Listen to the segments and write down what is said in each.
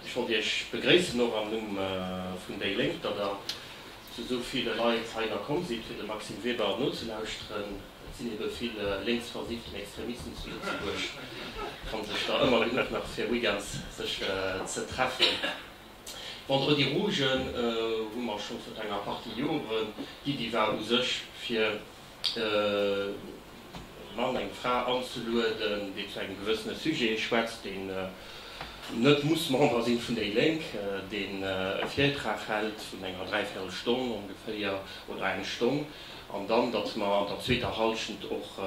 Ech wollt Iech begréissen, och am Numm vun déi Lénk, datt Der zu esou ville Leit heihinner komm sidd, fir dem Maxime Weber nozelauschteren. Et sinn ebe vill lénksversifften Extremisten zu Lëtzebuerg, kann sech der ëmmer genuch nach fir weekends sech ze treffen. Vendredi Rouge hu mer scho virun enger Partie Joren. D'Iddi war u sech, fir e Mann, eng Fra anzelueden, déi zu engem gewëssene Sujet schwätzt, deen net muss Member sinn vun déi Lénk, deen e Virtrag hält vun enger dräivierel Stonn ongeféier oder eng Stonn, an dann, datt mer an der zweeter Hallschent och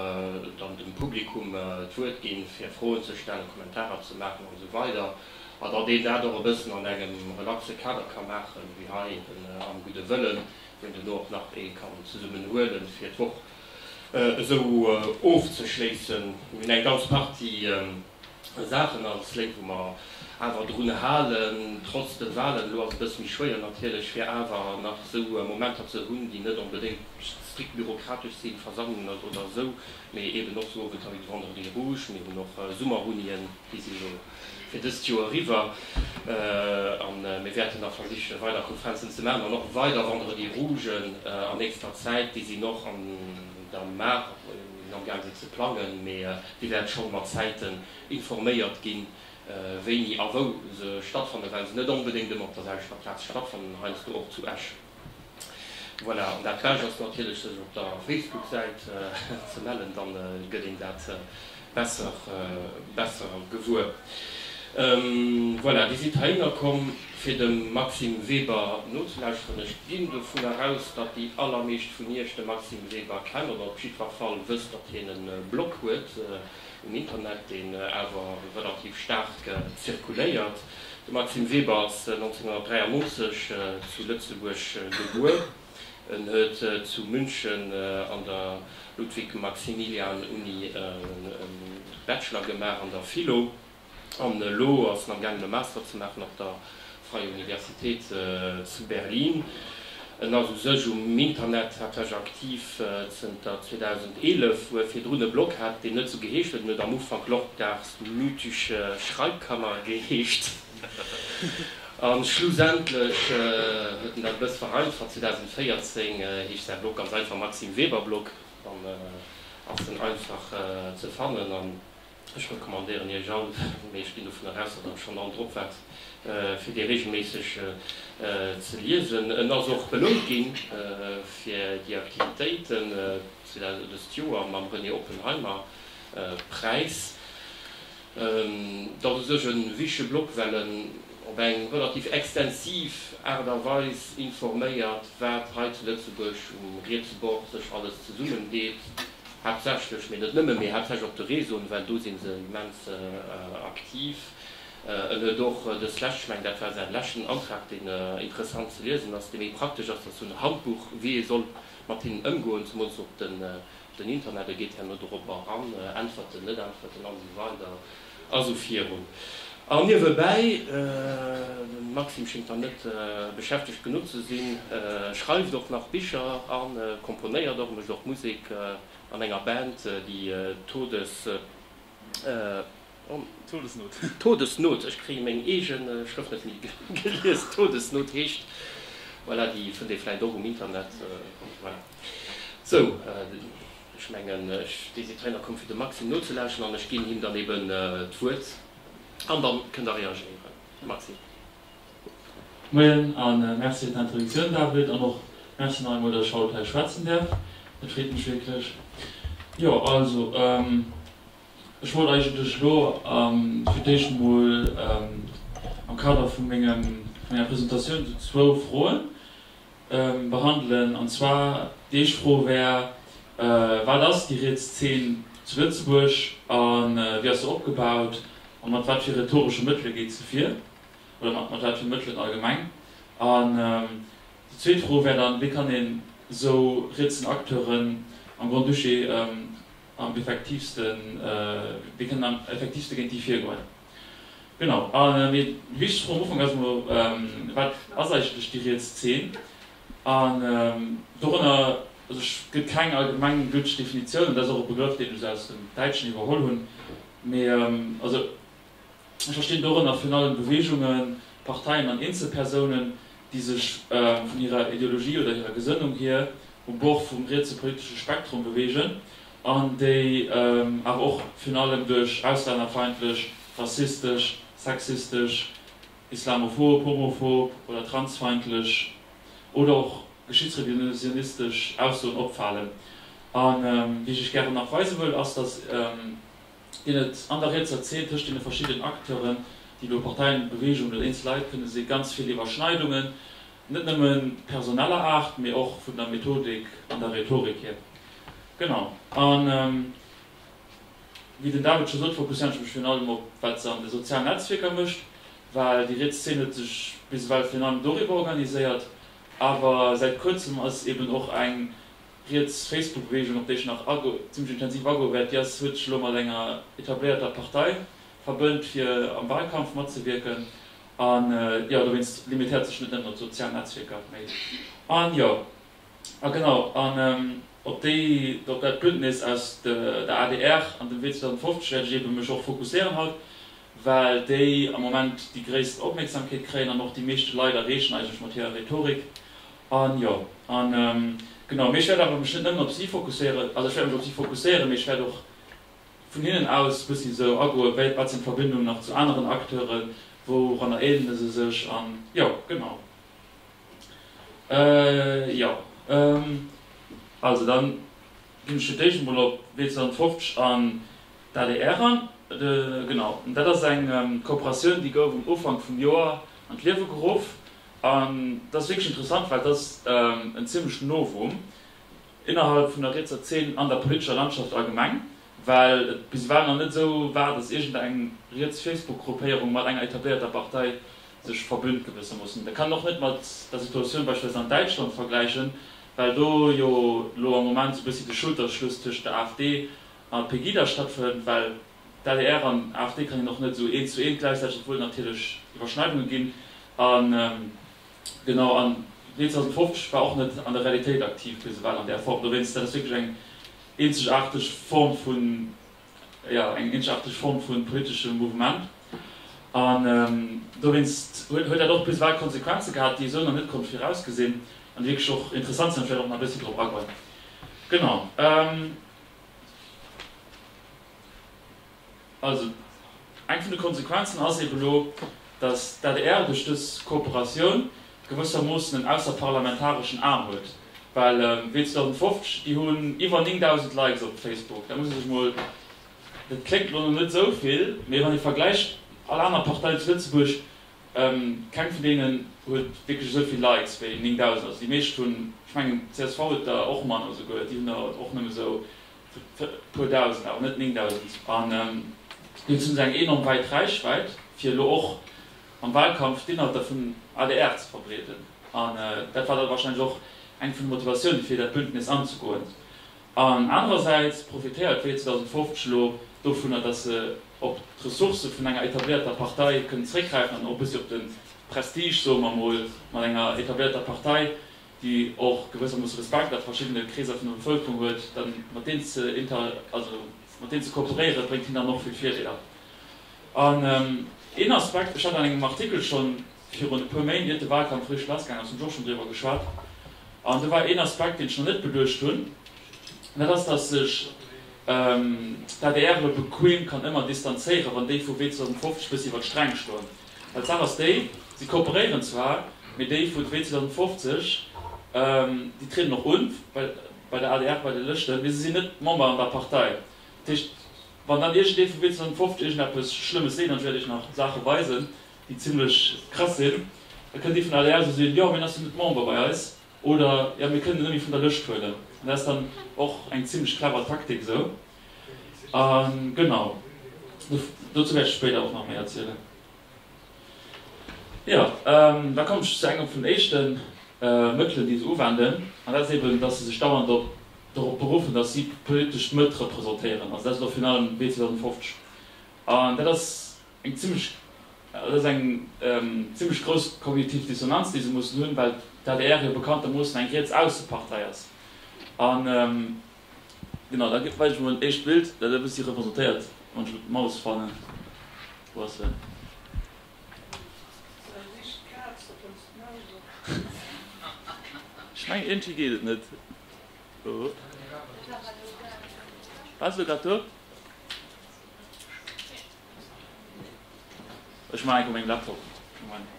dann dem Publikum d'Wuert ginn, fir Froen ze stellen, Kommentarer ze maachen an esou weider, a datt een dat och e bëssen an engem relaxe Kader ka maachen, wéi hei eben am gudde Wëllen. Wou den do och nach ee kann zesummen huelen fir d'Woch esou ofzeschléissen. Mir hunn eng ganz Partie Saachen als Lénk wou mer awer drun halen, trotz de Wahlen, elo ass e bësse méi schwéier natierlech, fir awer nach esou Momenter ze hunn, déi net onbedéngt strikt bürokratesch sinn, Versammlungen oder esou, mee eeben och sou Owentavis de Vendredi rouge. Mir hunn och Summerunien, déi si elo. fir dëst Joer eriwwer a mir wäerten nach versichen weider Konferenzen ze maachen an och weider Vendredis rougen an nächster Zäit. Déi sinn och an der Maach, sinn amgaang se ze plangen, mee Dir wäert scho mat Zäiten informéiert ginn, wéini a wou se stattfanne well se net onbedéngt ëmmer op der selwechter Plaz stattfannen, heiansdo och zu Esch. Voilà, an dat Bescht ass natierlech sech op der Facebook-Säit ze mellen, da gëtt een dat besser besser gewuer. Voilà, Dir sidd heihinner komm fir dem Maxime Weber nozelauschteren. Ech ginn dovunner aus, datt déi allermeescht vun Iech de Maxime Weber kennen, oder op jiddwer Fall wësst, datt hien e Blog huet. um Internet, deen awer relativ staark zirkuléiert. De Maxime Weber ass 1993 zu Lëtzebuerg gebuer. En huet zu München an der Ludwig-Maximilian-Uni e Bachelor gemaach an der Philo. an elo ass en am gaangen e Master ze maachen op der Freie Universität zu Berlin. En ass u sech um Internet haaptsächlech aktiv zënter 2011, wou e virdrun e Blog hat, deen net esou geheescht huet. En huet am Ufank Lorcars mythische Schreibkammer geheescht a schlussendlech huet en dat e bësse vereinfacht. 2014 heescht säi Blog ganz einfach Maxime Weber Blog an ass en einfach ze fannen a Ech recommandéieren Iech all, mee ech ginn dovunner aus, datt Der schonn all drop waart, fir dee reegelméisseg ze liesen. En ass och belount gi fir déi Aktivitéiten dëst Joer mam René Oppenheimer Präis. Dat u sech e wichtege Blog, well en op eng relativ extensiv Aart a Weis informéiert, wat hei zu Lëtzebuerg um rietse Bord sech alles zesummendeet, Haaptsächlech, mee net nëmme, mee haaptsächlech op de Réseauen, well do si se immens aktiv. En huet och dës lescht, ech mengen dat war säin leschten Antrag, deen interessant ze liesen ass, dee méi praktesch ass, dat ass esou en Handbuch, wéi ee soll mat hinnen ëmgoen, zemools op den Interneten, geet herno dorobber eran, äntwert en, net äntwert en, an esou weider. Also virun. An niewebäi, den Maxime schingt dann net beschäftegt genuch ze sin, schreiwt och nach Bicher an komponéiert och, mecht och Musek an enger Band, déi Todes, Todesnot. Todesnot, ech kréien meng eegen Schrëft net méi gelies, Todesnot heescht, voilà, déi fënnt ee vläit och um Internet, voilà, sou. Ech mengen, ech désitréien a komme fir dem Maxime nozelauschteren an ech ginn him dann eben d'Wuert an da kënn Der reagéieren. Maxime. Moien a Merci fir d'Introduktioun, David, an och Merci nach eemol, datt ech haut hei schwätzen däerf. Et freet mech wierklech. Jo, also ech wollt eigentlech elo fir d'éischt emol am Kader vu menger Presentatioun esou zwou Froen, behandelen, an zwar déi éischt Fro wär, Wat ass déi riets Zeen zu Lëtzebuerg a wéi ass se opgebaut a mat wat fir rhetoresche Mëttele geet se vir, oder mat wat fir Mëttelen allgemeng? An déi zweet Fro wär dann, Wéi kann een esou rietsen Acteuren am Grand-Duché am effektiivste, wéi kënnen am effektiivste géint déi virgoen? Genau, a wéi ech vum Ufank aus emol wat ass eigentlech déi riets Zeen? An dorënner gëtt keng allgemeng gülteg Definitioun, an dat ass och e Begrëff, deen ech esou aus dem Däitschen iwwerholl hunn. Mee also ech verstinn dorënner virun allem Beweegungen, Parteien an eenzel Persounen, déi sech vun hirer Ideologie oder hirer Gesënnung hier um Bord vum rietse politesche Spektrum beweegen. an déi awer och virun allem duerch auslännerfeindlech, rassistesch, sexistesch, islamophob, homophob oder transfeindlech oder och geschichtsrevisionistesch Aussoen opfalen. A wéi ech Iech gären nach weise wëll, ass, datt een et an der rietser Zeen tëscht deene verschiddenen Acteuren, déi do Parteien, Beweegungen oder eenzel Leit kënne si, ganz vill Iwwerschneidungen Net nëmme personeller Aart, mee och vun der Methodik an der Rhetorik hier. Genau. A wéi den David scho sot, fokusséieren ech mech virun allem op wat se an de sozialen Netzwierker mécht, well déi riets Zeen huet sech bis ewell virun allem doriwwer organiséiert. Awer säit kuerzem ass eben och eng riets Facebook-Beweegung, op déi ech nach zimmlech intensiv agoe wäert, déi ass, huet sech elo mat enger etabléierter Partei verbënnt, fir am Wahlkampf matzewierken. A jo, dowéinst limitéiert sech net nëmmen op d'sozial Netzwierker, mee a jo. A genau, an op déi, op dat Bündnis aus der adr an dem Wee 2050 wäert ech eebe mech och fokusséieren haut, well déi am Moment déi gréisst Opmierksamkeet kréien an och déi meeschte Leit erreechen eigentlech mat hirer Rhetorik. A jo. A genau, mee ech wäert awer mech net nëmmen op si fokusséieren, also ech wäert mech op si fokusséieren, mee ech wäert och Vun hinnen aus muss een esou agoen, wéi wat sinn d'Verbindungen nach zu aneren Acteuren, wouranner eelene se sech an, jo, genau. Jo, also dann ginn ech fir d'éischt emol op W250 an d'ADR an. Genau, dat ass eng Kooperatioun, déi gouf um Ufank vum Joer an d'Liewe geruff an dat ass wierklech interessant, well dat ass en zimmlechen Novum. Innerhalb vun der rietser Zeen an der politescher Landschaft allgemeng, well et bis ewell nach net esou war, datt iergendeng riets Facebook-Gruppéierung mat enger etabléierter Partei sech verbünnt gewëssermoossen. Et kann een och net mat der Situatioun beispillsweis an Däitschland vergläichen, well do jo elo am Moment esou e bëssi de Schulterschluss tëscht der AfD a Pegida stattfënnt, well d'LDR an AfD kann een och net esou eent zu eent gläichsetzen, obwuel et natierlech Iwwerschneidunge ginn. Genau, an 1950 war och net an der Realitéit aktiv bis ewell an där Form. Dowéinst, dat ass wierklech eng eenzegaarteg Form vun, jo, eng eenzegaarteg Form vu politeschem Mouvement. An dowéinst huet huet dat och bis ewell Konsequenze gehat, déi ee sou nach net konnt virausgesinn an déi wierklech och interessant sinn, vläicht och nach e bëssi drop agoen. Genau. Also, eng vun de Konsequenzen ass eben elo, datt d'ADR duerch dës Kooperatioun gewëssermoossen en ausserparlamentareschen Aarm huet, well wéi 2050, déi hunn iwwer 9.000 Likes op Facebook, da muss ee sech mol, dat kléngt elo nach net esou vill, mee wann ee vergläicht, all aner Partei zu Lëtzebuerg, keng vun deenen huet wierklech esou vill Likes wéi 9.000. Also déi meescht hunn, ech mengen d'CSV huet der och manner esouguer, déi hunn der och nëmme esou puer dausend, awer net 9000, an dozou hunn se eng enorm weit Räichwäit, fir elo och am Wahlkampf d'Inhalter vun adr ze verbreeden. An dat war da wahrscheinlech och eng vun de Motivatioune fir dat Bündnis anzegoen. An anerersäits profitéiert d'Wee 2050 elo dovunner, datt se op d'Ressourcë vun enger etablierter Partei kënnen zeréckgräifen an och e bëssi op de Prestige, soe mer emol, mat enger etablierter Partei déi och gewëssermoosse Respekt a verschiddene Kreeser vun der Bevëlkerung huet, da mat deenen ze inter, also mat deenen ze kooperéieren, bréngt hinnen dann och vill Virdeeler. An een Aspekt, ech hat an engem Artikel scho virun e puer Méint, iert de Wahlkampf richteg lassgaangen ass, hunn ech och schonn driwwer geschwat, an do war een Aspekt, deen ech nach net beduecht hunn, an dat ass, datt sech d'ADR bequeem kann ëmmer distanzéieren, wann déi vu Wee 2050 e bëssi iwwer d'Sträng schloen. Well d'Saach ass déi, si kooperéieren zwar, mee déi vun Wee 2050, déi trieden och un bei der adr, bei de Lëschten, mee se sinn net Member an der Partei. Dat heescht, wann dann iergendee vu Wee 2050 iergendeppes Schlëmmes seet, an ech wäert iech nach Saache weisen, déi zimmlech krass sinn, da kënnt dee vun der adr esou soen, jo, mee en ass jo net Member bei eis, oder, jo, mir kënnen en nëmme vun der Lëscht huelen. An dat ass dann och eng zimmlech clever Taktik esou. Genau, dozou wäert ech spéider och nach méi erzielen. Jo, da komme ech zu engem vun den éischte Mëttelen, déi se uwenden, an dat ass eben, datt se sech dauernd op dorop beruffen, datt si politesch d'Mëtt representéieren. Also dat ass elo virun allem wéi 2050. An dat ass eng zimlech, dat ass eng zimlech grouss kognitiv Dissonanz, déi se mussen hunn, well d'ADR jo bekanntermoossen eng riets-ausse Partei ass. An Genau, da weist ech mol en éischt Bild, dat e bëssi representéiert, wann ech elo d'Maus fannen. Wou ass se? Ech mengen iergendwéi geet et net. War se grad do? Ech maachen eng Kéier meng Laptop. Moment.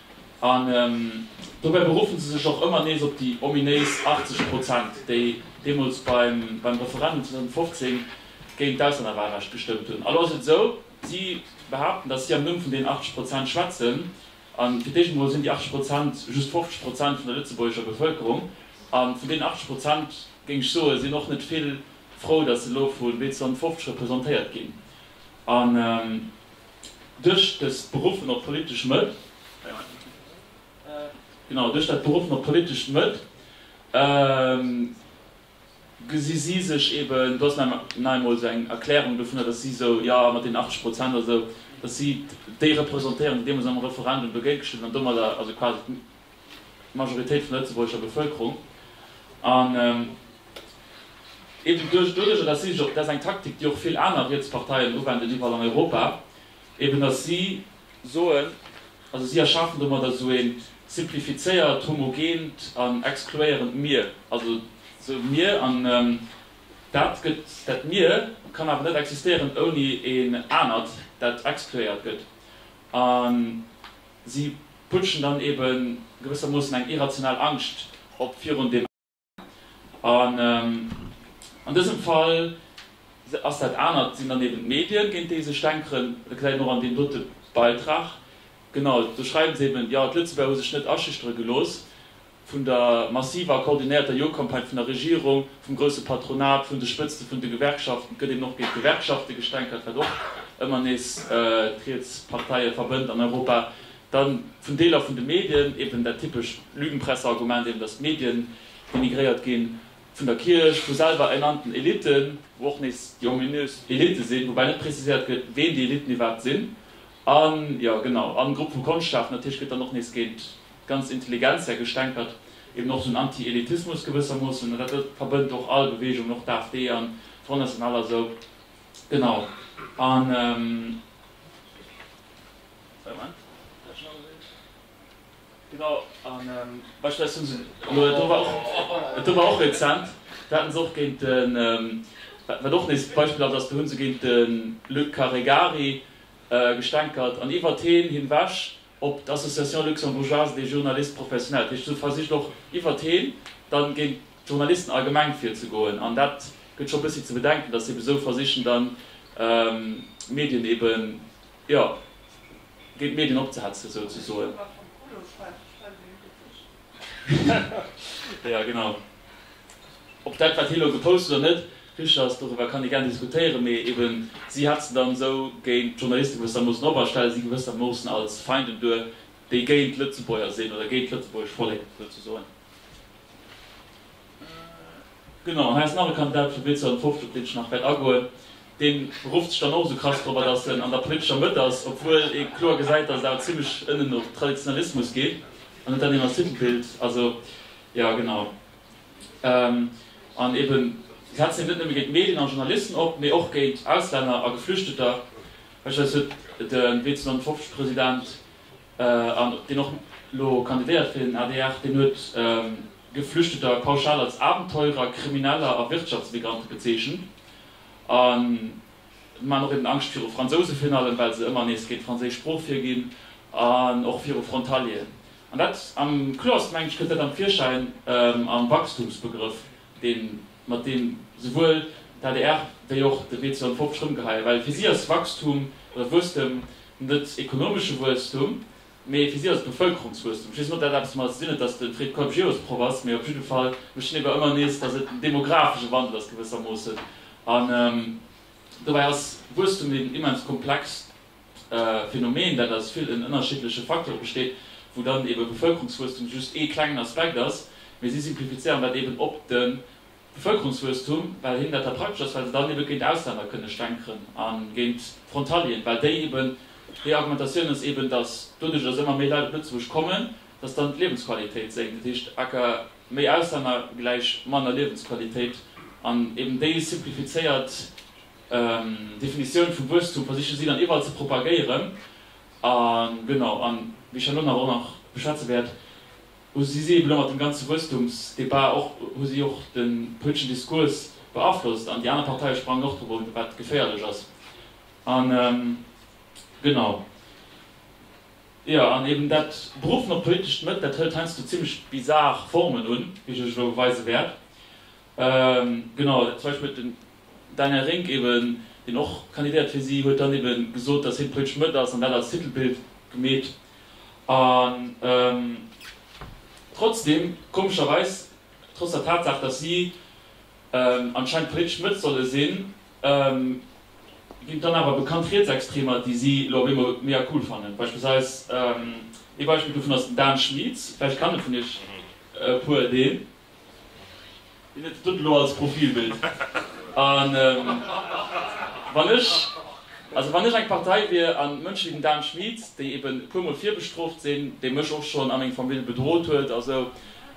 An dobäi beruffen se sech och ëmmer nees op déi ominéis 80 Prozent, déi deemools beim Referendum 2015 géint d'Auslännerwahlrecht gestëmmt hunn. Elo ass et esou, si behaapten, datt si am Numm vun deenen 80 Prozent schwätzen. A fir d'éischt emol sinn déi 80 Prozent just 50 Prozent vun der lëtzebuergescher Bevëlkerung. A vun deenen 80 Prozent, géing ech soen, sinn och net vill frou, datt se elo vu bl 250 representéiert ginn. Duerch dës Beruffen op politesch Mëtt, genau, duerch dat Beruffen op politesch Mëtt, gesi si sech eben, do ass nach eemol esou eng Erklärung dovunner, datt si esou, jo, mat deenen 80 Prozent oder esou, datt si déi representéieren, déi deemools am Referendum dogéint gestëmmt hunn an domadder also quasi D'Majoritéit vun der lëtzebuergescher Bevëlkerung. An eben duerch, doduerch, dass si sech och, dat ass eng Taktik, déi och vill aner riets Parteien uwenden iwwerall an Europa, eben dass si soen, also si erschafen domadder esou e simplifizéiert, homogent an exkluéierend Mir. Also esou e Mir, an dat gëtt, dat Mir kann awer net existéieren ouni een anert, dat exkluéiert gëtt. A Si putschen dann ebe gewëssermoossen eng irrational Angscht op virun deem Aneren. An an dësem Fall ass dat Anert sinn dann eben d'Medien, géint déi sech stänkeren. Dat gesäit een och an deem dote Beitrag. Genau, do schreiwe se eben, jo, d'Lëtzebuerger hu sech net aschüchtere gelooss. vun der massiver a koordinéierter Jo-Campagne vun der Regierung, vum grousse Patronat, vun de Spëtzte vun de Gewerkschaften, et gëtt eben och géint d'Gewerkschafte gestänkert, wat och ëmmer nees d'riets Parteie verbënnt an Europa, da vun Deeler vun de Medien, eben dat typescht Lügenpresse-Argument eben, datt d'Medien denigréiert ginn, vun der Kierch, vu selwer ernannten Elitten, wou och nees déi ominös Elitte sinn, woubäi net preziséiert gëtt, ween déi Elitten iwwerhaapt sinn, a jo, genau, a Grupp vu Konschtschaften, dat heescht, gëtt dann och nees géint ganz intelligent säi gestänkert, eben och esou en Anti-Elitismus gewëssermoossen, an dat verbënnt och all Beweegung, och d'AfD an d'Front National a sou. Genau. An. Moment. Genau. An beispillsweis hu se elo, dat do war och, dat do war och rezent, do hate se och géint den, wat och nees beispilhaft ass, do hu se géint de Luc Caregari gestänkert an iwwert heen hinwech op d'Association luxembourgeoise des journalistes professionnels, dat heescht esou versicht och iwwert heen dann géint d'Journalisten allgemeng virzegoen an dat gëtt scho bëssi ze bedenken, datt se eben esou versichen dann d'Medien eben, jo, géint d'Medien opzehetzen esou ze soen. Jo genau. Ob dat wat hien elo gepost huet oder net richteg ass, doriwwer kann ee gär diskutéieren, mee eben si hat se dann esou géint d'Journaliste gewëssermoossen op a stelle si gewëssermoossen als Feinden duer, déi géint d'Lëtzebuerger sinn oder géint d'Lëtzebuergesch Vollek souzesoen. Genau, hei ass nach e Kandidat vum Bild 250, op deen ech nach wäert agoen. Dee rufft sech dann och esou krass drop an, datt en an der politescher Mëtt ass, obwuel ee kloer gesäit, datt et awer zimmlech ënnen no Traditionalismus geet, an huet dann eben als Titelbild, also jo genau. An eben setzt hien net nëmme géint Medien an Journalisten op, mee och géint Auslänner a Geflüchteter. Beispillsweis huet den Bild 250 President an deen och elo kandidéiert fir den adr, deen huet Geflüchteter pauschal als Abenteurer, Krimineller a Wirtschaftsmigrante bezeechent. An mir maachen och eben Angscht viru Fransouse virun allem, well se ëmmer nees géint d'franséisch Sprooch virginn, an och viru Frontalieren. An dat am kloersten, meng ech, kënnt dat am Virschäin am Wachstumsbegrëff, deen mat deem souwuel d'ADR wéi och de WCO an d'Pop sech rëmgeheien, well fir si ass Wachstum oder Wuesstem net ekonomesche Wuesstum, mee fir si ass et Bevëlkerungswuesstum. Ech weess net, ob dat eppes domat ze dinn huet, datt de Fred Keup Geosproff ass, mee op jidde Fall mécht hien ewer ëmmer nees, datt et en demografesche Wandel ass gewëssermoossen. An dobäi ass Wuesstum eben immens komplex. e Phänomen, dat aus villen ënnerschiddleche Facteure besteet, wou dann eebe Bevëlkerungswuesstum just ee klengen Aspekt ass, mee si simplifizéieren dat eeben op de Bevëlkerungswuesstum, well hinnen dat da praktesch ass, well se dann eebe géint Ausländer kënne stänkeren a géint Frontalieren, well déi eeben, déi Argumentatioun ass eeben, datt doduerch, datt ëmmer méi Leit op Lëtzebuerg kommen, datt dann d'Liewensqualitéit sénkt, dat heescht aka méi Auslänner gläich manner Liewensqualitéit, an eeben déi simplifizéiert Definitioun vum Wuesstum versiche si dann iwwerall ze propagéieren. A genau, a wéi ech herno nach och nach beschwätze wäert, hu si ebe lo mat deem ganze Wuesstumsdebat och, hu si och de politeschen Diskurs beaflosst an déi aner Parteie sprangen och drop un, wat geféierlech ass. A genau, jo, an eben dat beruffen op politescht Mëtt, dat hëlt heiansdo zimmlech bizar Formen un, wéi ech lech elo weise wäert. Genau, zum Beispill huet de Daniel Rink eben, deen och kandidéiert fir si, huet dann ebe gesot, datt hien politesch Mëtt ass an dat als Titelbild gemeet. An trotzdeem, komescherweis, trotz der Tatsaach, datt si anscheinend politesch Mëtt solle sinn, ginn et dann awer bekannt Rietsextremer, déi si elo op eemol mega cool fannen. Beispillsweis, ee Beispill dovun ass den Dan Schmietz, vläicht kannt e vun iech e puer deen. Hien huet et dun elo als Profilbild. An wann ech, also wann ech eng Partei wier an Mënschen wéi den Dan Schmit, déi eben e puer mol virbestrooft sinn, dee mech och schonn a meng Famill bedrot huet a sou,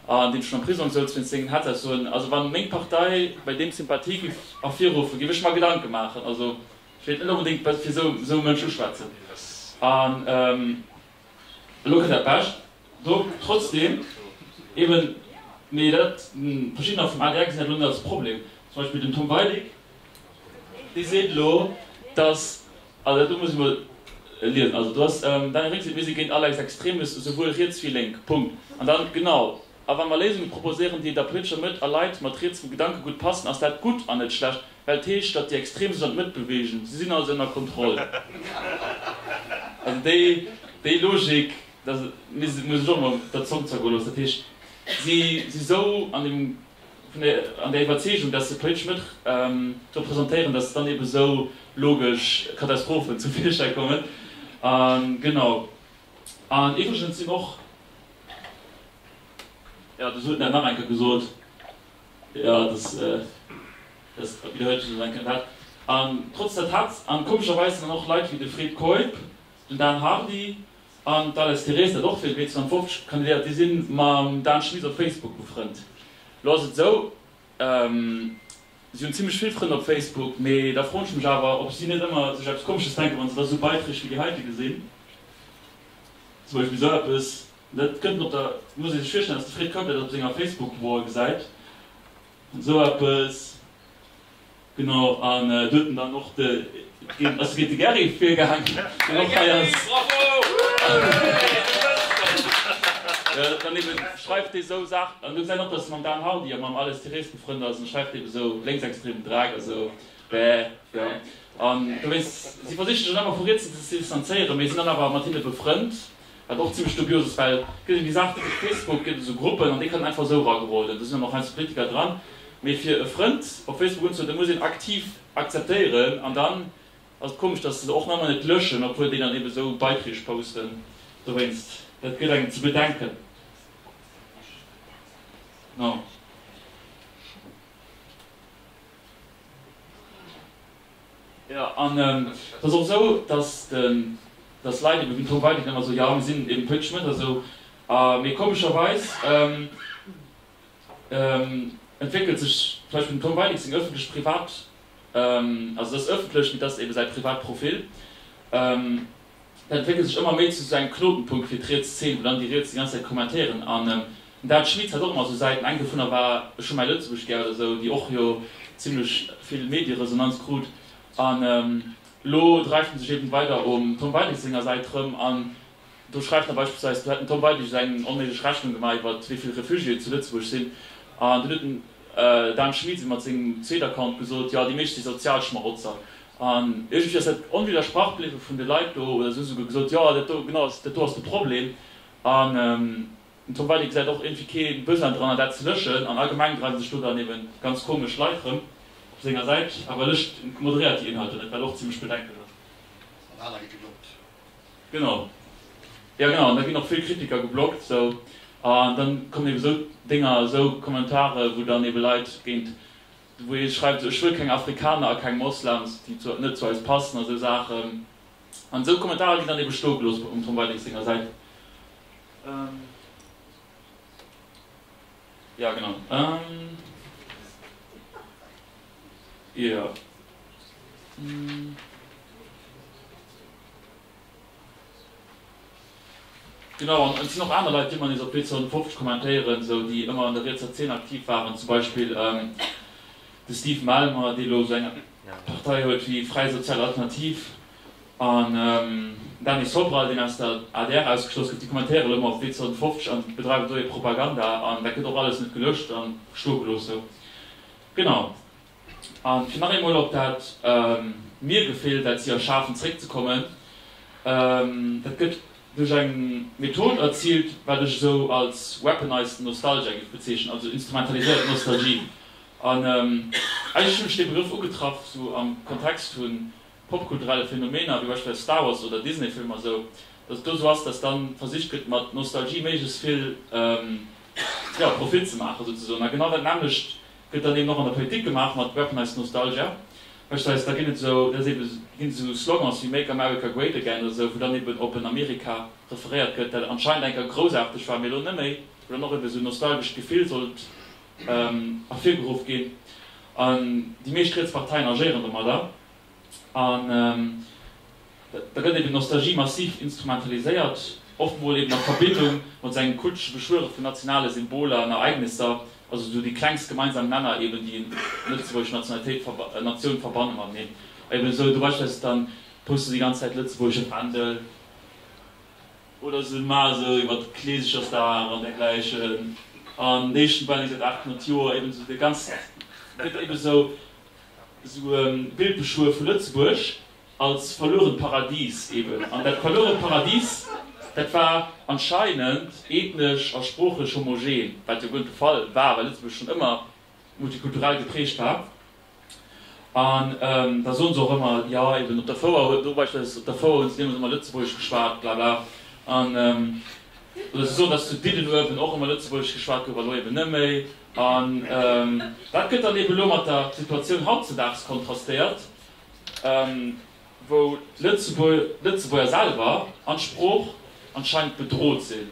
an dee schonn am Prisong souz wéinst sengen Hetzaussoen, also wann meng Partei bei deem Sympathie giff ervirruffen, giff ech mer Gedanken maachen. Also ech wéilt net onbedéngt fir sou Mënsch uschwätzen. An Elo kritt Der Pech. Do trotzdeem eeben, mee dat, verschiddener vum adr gesinn dat elo net als Problem, zum Beispill den Tom Weidig, dee seet elo, datt, also do muss ech emol liesen, also do ass Daniel Rix seet, mir si géint all Lex extremis, esouwuel riets wéi lénk, Punkt. An dann, genau, a wa mer Léisunge proposéieren, déi der politescher Mëtt a Leit mat rietsem Gedankegutt passen, ass dat gutt an net schlecht. Well d'Heescht, datt déi Extrem sech an d'Mëtt beweegen. Si sinn also ënner Kontroll. Also déi, déi Logik, datt et, mir si, muss ech och emol der Zong zergoen loossen, dat heescht, si si esou an dem, vun der, an der Iwwerzeegung, datt se d'politesch Mëtt representéieren, datt dann ebe sou logesch Katastrophen zum Virschäi kommen. A genau. An iwwregens sinn och, jo, du, se huet dat nach eng Kéier gesot. Jo, et ass dëst Joer widderhuelt sech eng Kéier dat. An trotz der Tatz, an komescherweis sinn dann och Leit wéi de Fred Keup, den Dan Hardy an d'Alice Therese, dat och fir d'B 52 kandidéiert, déi si mam Dan Schmit op Facebook befrënnt. Lo ass et esou, si hunn zimlech vill Frënn op Facebook, mee da froen ech mech awer, ob si net ëmmer sech eppes Komesches denken, wa se da esou Beiträg wéi déi heite gesinn, zum Beispill esou eppes, Dat kënnt mat der, et muss ee sech virstellen, datt de Fred Keup dat op senger Facebook-Wall gesäit, esou eppes, genau, an do huet en dann och de, ass géint de Garry virgaangen, deen och hei ass, dann ebe schreift dee esou Saachen, an do gesäit een och, datt e mam Dan Hardy a mam Ales Thirez befrënnt ass, an da schreift dee esou lénksextremen Drak a sou, bäh, jo, an dowéinst, si versiche sech dann ëmmer vu riets ze distanzéieren, mee sinn dann awer mat hinne befrënnt. Wat och zimmlech dubios ass, well gëtt eng Gesag, typesch Facebook, gëtt esou Gruppen an déi kënnen einfach esou erageroden, do sinn dann och heiansdo Politiker dran, mee fir e Frënd op Facebook unzehuelen, muss een aktiv akzeptéieren an dann ass et komesch, dass se se och manner net löschen, obwuel déi dann eben esou Beiträg posten dowéinst. Dat gëtt engem ze bedenken. Jo, an et ass och esou, datt datt Leit ebe virdru weiderhin ëmmer esou, jo, mir sinn eben politesch net esou, a mee komescherweis entwéckelt sech zum Beispill dem Tom Weidig seng ëffentlech-privat, also datt ëffentlech, mee datt ebe säi Privatprofil. Dat entwéckelt sech ëmmer méi zu esou engem Knotenpunkt fir d'riets Zeen, wou dann déi Riets déi ganz Zäit kommentéieren. An d'Al Schmied hat och ëmmer esou Säiten, eng dovunner war Scho mäi Lëtzebuerg gär oder esou, déi och jo zimlech vill Medieresonanz krut. An elo dreift en sech eben weider um Tom Weidig senger Säit rëm an do schreift en beispillsweis, do hätt den Tom Weidig esou eng onméiglech Rechnung gemaach iwwer wéi vill Refugiéen zu Lëtzebuerg sinn. An dunn huet den Dan Schmit eben mat sengem zweet Account gesot, jo déi meescht si sozial Schmarotzer. An iergendwéi ass dat onwiddersprach bliwwe vun de Leit do, oder se hu souguer gesot, Jo, dat do, genau, dat do ass de Problem. An den Tom Weidig gesäit och iergendwéi kee Besoin dran, an dat ze lëschen. An allgemeng dreiwe sech do dann ebe ganz komesch Leit rëm op senger Säit. Awer lëscht en, moderéiert déi Inhalter net, wat och zimlech bedenklech ass. An aner gi geblockt. Genau. Jo, genau. An da ginn och vill Kritiker geblockt. Sou. An da kommen ebe sou Dénger, sou Kommentare, wou dann ebe Leit géint. Wou ee schreift, esou, ech wëll keng Afrikaner a keng Moslems, déi net zu eis passen a sou Saachen. An esou Kommentarer ginn dann ebe stoe gelooss um Tom Weidig senger Säit. Jo, genau. Jo. Genau, an et sinn och aner Leit, déi mat eis op P52 kommentéieren, esou déi ëmmer an der rietser Zeen aktiv waren, zum Beispill de Steve Malmer, dee elo esou eng Partei huet wéi Fräi Sozial Alternativ, an den Dany Sobral, deen aus der adr ausgeschloss gouf. Déi kommentéieren elo ëmmer op P52 an bedreiwen do hir Propaganda, an dat gëtt och alles net gelëscht a stoe gelooss. Genau. A fir nach eemol op dat Mir-Gefill, dat si erschafen, zréckzekommen, dat gëtt duerch eng Method erziilt, wat ech esou als weaponized nostalgia géif bezeechnen, also instrumentaliséiert Nostalgie. An eigentlech hunn ech dee Begrëff ugetraff esou am Kontext vu popkulturelle Phänomener, wéi beispillsweis Star Wars oder Disney-Filmer, esou datt et do esou ass, datt dann versicht gëtt, mat Nostalgie méiglechst vill, jo, Profit ze maachen souzesoen. A genau dat nämmlecht Gëtt dann eben och an der Politik gemaach mat weaponized nostalgia, heescht eis, da ginn et esou, dat ass eben, ginn et esou Slogans wéi Make America Great Again oder esou, wou dann eben op en Amerika referéiert gëtt, dat anscheinend eng Kéier groussaarteg war, mee elo net méi, wou dann och eben esou nostalgescht Gefill sollt ervirgeruff ginn. An déi meescht riets Parteien agéieren domadder. An da gëtt eben Nostalgie massiv instrumentaliséiert, oft mol eben a Verbindung mat sou engem kultesche Beschwöre vun nationale Symboler an Ereignisser, also sou dee klengst gemeinsam Nenner eben, déi een lëtzebuergesch Nationalitéit, Natioun verbanne mateneen. Eben sou do beispillsweis dann poste déi ganz Zäit lëtzebuergesche Fändel, oder se maache sou iwwert Kleesechersdag an dergläichen, an déi éischten Bänn, wéi gesot 800 Joer, eben sou dee ganz, gëtt eben sou Esou e Bild beschwuer vu Lëtzebuerg als verluerent Paradies eben. An dat verluerent Paradies, dat war anscheinend ethnesch a sproochlech homogen, wat jo guer net de Fall war, well Lëtzebuerg schonn ëmmer multikulturell geprägt war. An da soen se och ëmmer, jo eben op der Fouer huet, do beispielsweis op der Fouer hunn se deemools ëmmer Lëtzebuergesch geschwat, bla bla. An oder se soen, datt zu Diddenuewen och ëmmer Lëtzebuergesch geschwat gouf a lo eben net méi. An dat gëtt dann eben elo mat der Situatioun hautzedaags kontrastéiert, wou d'Lëtzebuerger selwer an d'Sprooch anscheinend bedrot sinn,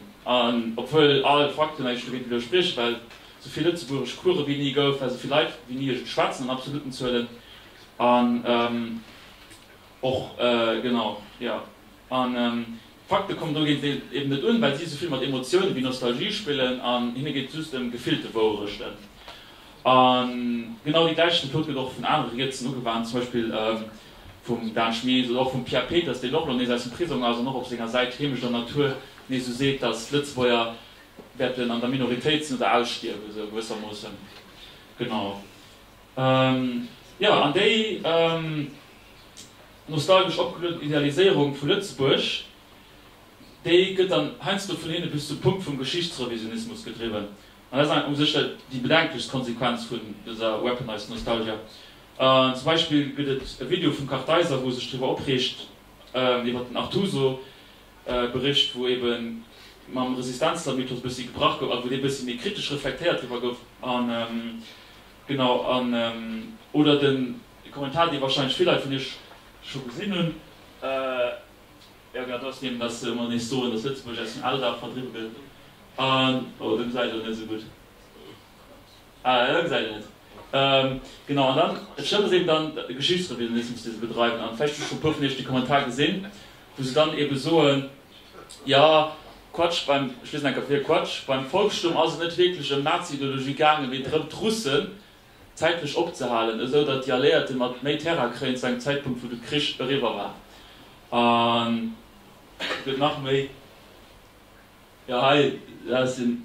obwuel all Fakten, ewéi ech dowéinst elo sprieche, well esou vill Lëtzebuergesch Course wéi ni gouf, well esou vill Leit wéi ni et schwätzen, an absoluten Zuelen, an och, genau, jo, an. Fakte kommen do géintiwwer eben net un, well si esouvill mat Emotiounen wéi Nostalgie spillen an hinne geet et just ëm gefillte Wouerechten. A genau déi gläich Method gëtt och vun anere rietsen ugewannt, zum Beispill vum Dan Schmitt oder och vum Pierre Peters, deen och elo nees aus dem Prisong ass an och op senger Säit Heemecht an Natur nees esou seet, datt d'Lëtzebuerger wäerten an der Minoritéit sinn oder ausstierwen, esou gewëssermoossen. Genau. Jo, an déi Nostalgesch opgelueden Idealiséierung vu Lëtzebuerg, déi gëtt dann heiansdo vun hinne bis zum Punkt vum Geschichtsrevisionismus gedriwwen. An dat ass u sech jo déi bedenklechst Konsequenz vun dëser weaponized nostalgia. Zum Beispill gëtt et e Video vum Kartheiser, wou e sech driwwer opreegt, iwwer den Artuso-Bericht, wou ebe mam Resistenzler-Mythos e bëssi gebrach gouf, also wou dee e bëssi méi kritesch reflektéiert driwwer gouf. An, genau, an, oder de E Kommentar, dee warscheinlech vill Leit vun iech scho gesinn hunn. Jo, genau, dat ass deen, dass se mol nees soen, dass Lëtzebuerg aus dem Alldag verdriwwe gëtt an, oh, do gesäit et net esou gutt aus, ah, gesäit een net, genau. An dann, et stëmmt, dass eeben dann Geschichtsrevisionismus, dee se bedreiwen, an vläicht hu scho e puer vun iech dee Kommentar gesinn, wou se dann eebe soen, jo, Quatsch, beim, ech liesen enker vir, Quatsch, beim Volksstumm ass et net wierklech ëm Nazi-Ideologie gaangen, mee drëm, d'Russen, zäitlech opzehalen, esou datt déi Alliéierte mat méi Terrain kréien zu engem Zäitpunkt wou de Krich eriwwer war. An et gëtt nach méi, jo hei ass hien,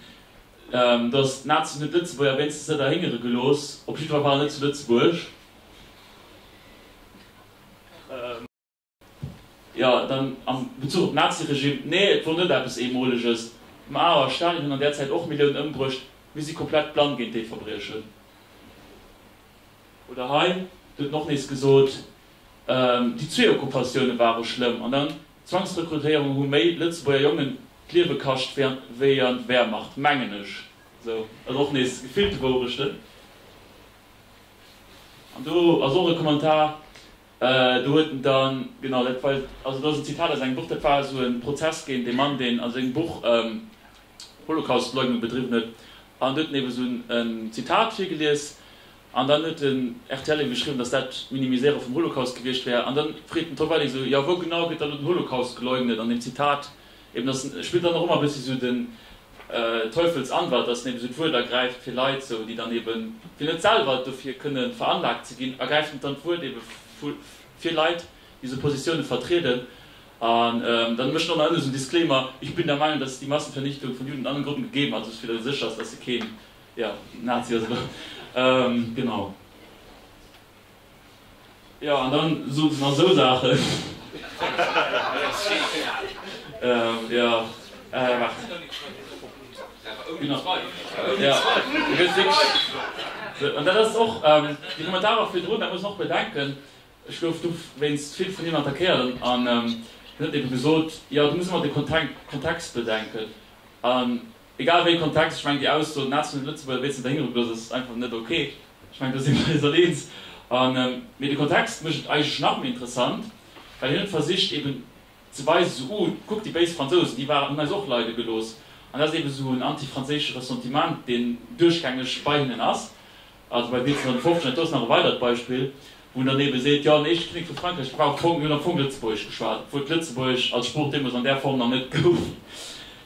datt d'Nazien hunn d'Lëtzebuerger wéinstens net erhéngere gelooss, op jiddwer Fall net zu Lëtzebuerg. Jo, dann am Bezuch op d'Nazi-Regime, nee, et wor net eppes Eemoleges. Mao a Stalin hunn an där Zäit och Milliounen ëmbruecht. Mir si komplett blann géint déi Verbriechen. Oder hei, et huet en och nees gesot, déi zwee Okkupatioune ware schlëmm an dann d'Zwangsrekrutéierung hu méi Lëtzebuerger Jongen d'Liewe kascht wéi an d'Wehrmacht, mengen ech. Sou, also och nees gefillte Wourechten. An do ass och e Kommentar. Do huet en dann, genau, dat war, also dat ass en Zitat aus engem Buch, dat war esou e Prozess géint ee Mann, deen a sengem Buch Holocaustleugnung bedriwwen huet. An do huet en eeben esou e Zitat virgelies. An dann huet den rtl eebe geschriwwen, datt dat d'Minimiséiere vum Holocaust gewiescht wär. An da freet den Tom Welling esou, Jo, wou genau gëtt dann elo den Holocaust geleugnet an deem Zitat, Eben, dass en, e spillt dann och ëmmer e bëssi esou den Teufelsanwalt, dass en eben esou d'Wuert ergräift fir Leit esou, déi dann eben, fir net selwer dofir kënne veranlagt ze ginn, ergräift en dann d'Wuert ebe fir Leit, déi esou Positiounen vertrieden. An dann mécht en och nach ënne esou en Disclaimer, Ich bin der Meinung, dass die Massenvernichtung von Juden und anderen Gruppen gegeben hat, also fir dass e sécher ass, dass e keen, ja, Nazi ass oder genau. Jo, an dann soot se nach esou Saachen. Jo, waart. Gin nach bei. Jo, du gëss wierklech. An dat ass och, déi Kommentarer virdrun, dat muss een och bedenken, ech gouf do wéinst vill vun hinnen attackéiert, an hien huet eben gesoot, jo, du muss ëmmer de Kontext bedenken. An Egal wéi Kontext, ech mengen déi Ausso, den Einzelnen Lëtzebuerger wier ze verhingere bloot, ass einfach net ok. Ech mengen do si mir eis all eens. Mee de Kontext mécht et eigentlech nach méi interessant, well hien huet versicht eben ze weisen, esou, oh, kuckt déi béis Fransousen, déi waren, hunn eis och leide gelooss. An dat ass eben esou en anti-franséische Ressentiment, deen duerchgängeg bei hinnen ass. Also bei 1750, an do ass nach e weidert Beispill, wou en dann eebe seet, jo, an eescht Kinnek vu Frankräich brauch d'Fong, mir hunn am Fong Lëtzebuergesch geschwat, obwuel d'Lëtzebuergesch als Sprooch deemools an där Form nach net gouf.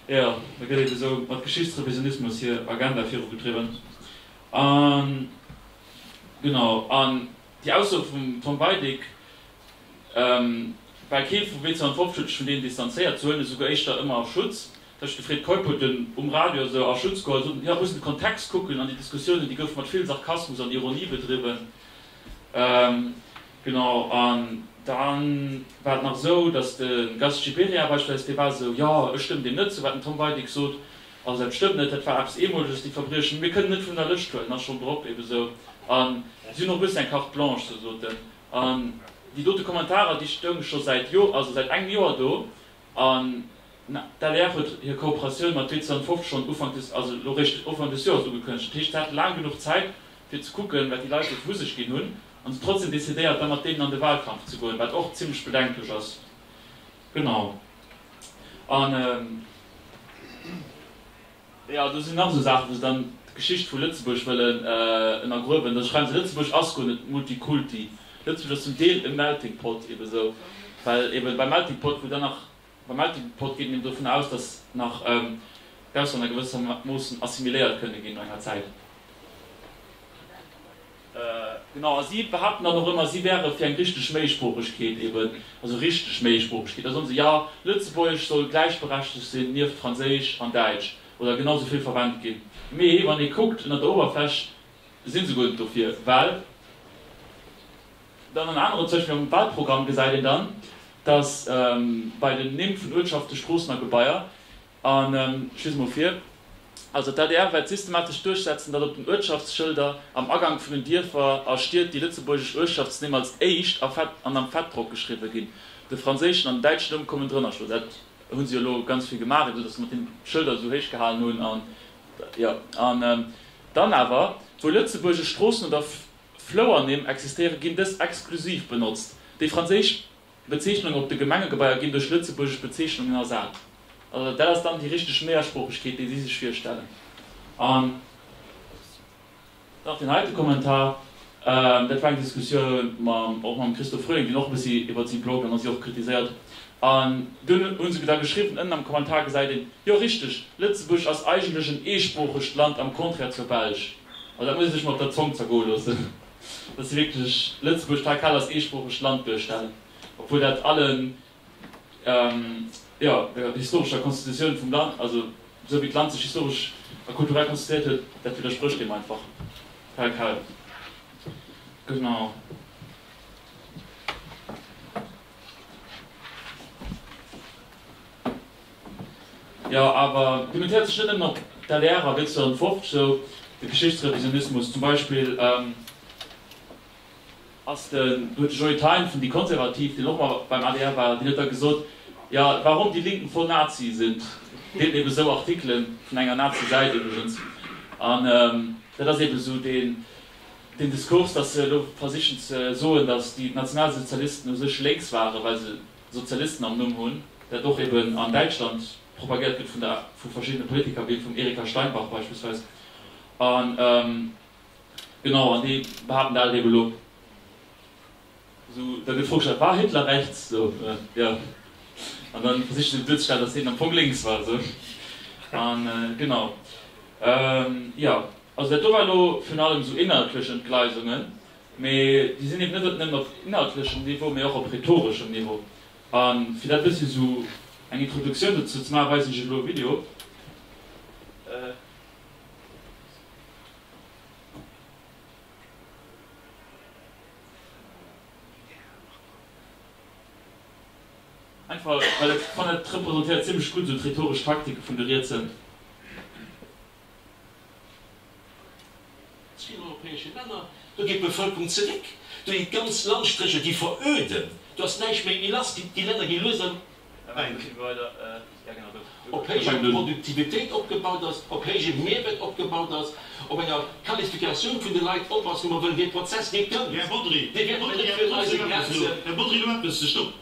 Jo, da gëtt eebe esou mat Geschichtsrevisionismus hir Agenda virugedriwwen. A genau, an déi Ausso vum Tom Weidig, well kee vu 1750 huet sech vun deenen distanzéiert, se huelen esouguer éischter ëmmer a Schutz, Ech, de Fred Keup, hueten um Radio esou a Schutz geholl, soten, jo, muss een de Kontext kucken, an déi Diskussiounen, déi goufe mat vill Sarkasmus an Ironie bedriwwen. Genau, an da war et nach esou, datt de Gast Gibéryen beispillsweis, dee war esou, jo, ech stëmmen deem net zou, wat den Tom Weidig sot, also dat stëmmt net, dat war eppes Eemoleges, déi Verbriechen, mir kënnen net vun der Lëscht huelen, ass schonn drop, ebe esou, a si hunn och e bëssi eng Carte blanche, esou soten. An déi dote Kommentarer, déi stounge scho säit Joer, also säit engem Joer do, An d'LEF huet hir Kooperatioun mat Witze an 50 schonn Ufank des, also elo réischt Ufank des Joers ugekënnegt. Dat heescht, se hate laang genuch Zäit, fir ze kucken, wat déi Leit sou vu sech ginn hunn, an se trotzdeem decidéiert, da mat deenen an de Wahlkampf ze goen, wat och zimlech bedenklech ass. Genau. An. Jo, do sinn nach esou Saachen, wou se dann d'Geschicht vu Lëtzebuerg wëllen ënnergruewen. Da schreiwen se, Lëtzebuerg ass guer net multikulti. Lëtzebuerg ass zum Deel e melting pot, ebe sou, well ebe beim melting pot, wou dann nach, beim melting pot geet een eben dovun aus, datt nach d'Auslänner gewëssermoossen assimiléiert kënne ginn no enger Zäit. Genau, a si behaapten dann och ëmmer, si wäre fir eng richteg Méisproochegkeet eben, also richteg Méisproochegkeet. Da soen se, jo, Lëtzebuergesch soll gläichberechtegt sinn nieft Franséisch an Däitsch oder genau esou vill verwennt ginn. Mee wann ee kuckt ënnert der Uewerfläch, si se guer net dofir. Well dann an aneren, zum Beispill am Wahlprogramm, gesäit een dann, dass bei den Nimm vun Uertschaften, Stroossen a Gebaier A ech liese mol vir, Also d'ADR wäert systematesch duerchsetzen, datt op den Uertschaftsschëlder am Agank vun den Dierfer a Stied déi lëtzebuergesch Uertschaftsnimm als éischt a fett an am Fettdrock geschriwwe ginn. De franséischen an den däitschen Numm kommen drënner. Ech mengen, dat hu se jo elo ganz vill gemaach, esou datt se mat deene Schëlder esou héich gehalen hunn. An, jo, an dann awer, wou lëtzebuergesch Stroossen oder Flouernimm existéieren, ginn dës exklusiv benotzt. Déi franséisch D'Bezeechnungen op de Gemengegebaier ginn duerch lëtzebuergesch Bezeechnungen ersat. Dat ass dann déi richteg Meersproochegkeet, déi si sech virstellen. An nach deen heite Kommentar, dat war eng Diskussioun och mam Christo Frühling, deen och e bëssi iwwert si bloggt an da si och kritiséiert huet. An dunn hu se da geschriwwen, ënnen am Kommentar gesäit een, jo richteg, Lëtzebuerg ass eigentlech en eesproochegt Land, am Contraire zur Belsch. Also dat muss ee sech mol op der Zong zergoe loossen. dass si wierklech Lëtzebuerg hei grad als eesproochegt Land duerstellen, obwuel dat allen, jo, der historescher Konstitutioun vum Land, also esou wéi d'Land sech historesch a kulturell konstituéiert huet, dat widdersprécht deem einfach tel quel. Genau. Jo, awer domat héiert sech net nëmmen op. D'adr a Witze an d'Wort, sou de Geschichtsrevisionismus zum Beispill, ass de, huet de Joe Thein vun déi Konservativ, deen och mol beim adr war, deen huet da gesot, jo, warum die Linken voll Nazi sind, deelt ebe sou Artikele vun enger Nazi-Säit iwwregens. An dat ass ebe sou deen Diskurs, datt se elo versichen ze soen, datt déi Nationalsozialisten u sech lénks waren, well se Sozialisten am Numm hunn, dat och eben an Däitschland propagiert gëtt vun der, vu verschiddene Politiker, wéi vum Erika Steinbach beispillsweis, an genau, an déi behaapten dat eben elo. Esou, da gëtt virugestalt, war Hitler rechts? Esou, jo. An da versiche se eben duerzestellen, datt hien am Fong lénks war, esou. An genau, jo, also dat do war elo virun allem esou inhaltlech Entgleisungen. Mee déi sinn eben net op nëmmen op inhaltlechem Niveau, mee och op rhetoreschem Niveau. A fir dat bëssi esou eng Introduktioun dozou ze maachen, weisen ech iech elo e Video. Einfach well ech fannen, et representéiert zimmlech gutt esou d'rhetoresch Taktike vun de Rietse. Vill europäesche Länner, do geet d'Bevëlkerung zeréck, do gi ganz Landstrécher gi veröden, do ass näischt méi elastisch, déi Länner gi lues am Op héijer Produktivitéit opgebaut ass, op héije Mehrwert opgebaut ass, op enger Qualifikatioun vun de Leit op ass, wou mer wëllen, dee Prozess dee kënnt, dee wäert net nëmme fir eis e Grenze.